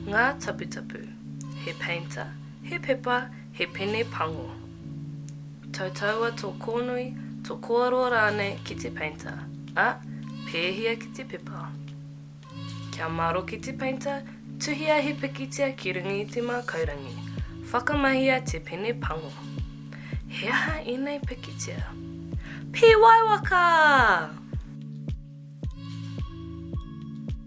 Ngā taputapu, he peita, he pepa, he pene pango. Tautaua tō kōnui, tō kōaroa rānei ki te peita, ā, pēhia ki te pepa. Kia maroke te peita, tuhia he pikitia ki runga i te mākaurangi, whakamahia te pene pango. He aha ēnei pikitia? Pīwaiwaka!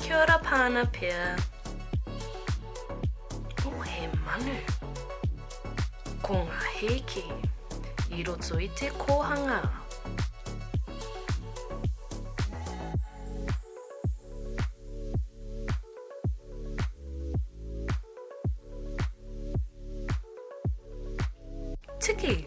Kia ora Pana Pia. Oh, he manu. Ko ngā hēki i roto i te kōhanga. Tiki!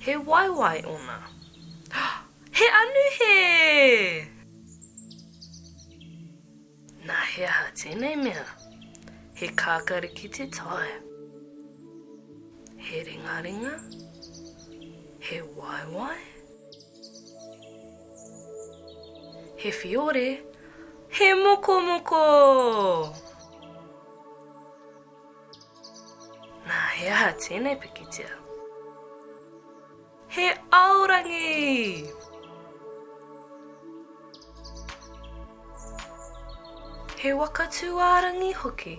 He waewae ona. He anu he! Na he aha tenei mea? He kakari ki te tae. He ringaringa? He waewae? He whiore? He mokomoko! Nā, he aha tēnei pikitia? He aorangi! He waka tūārangi hoki.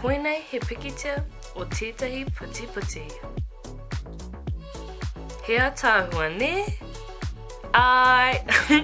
Koinei he pikitia o tētahi putiputi. He ataahua, nē? Āe!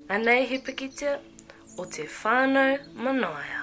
Anei he pikitia o te whanau manaia.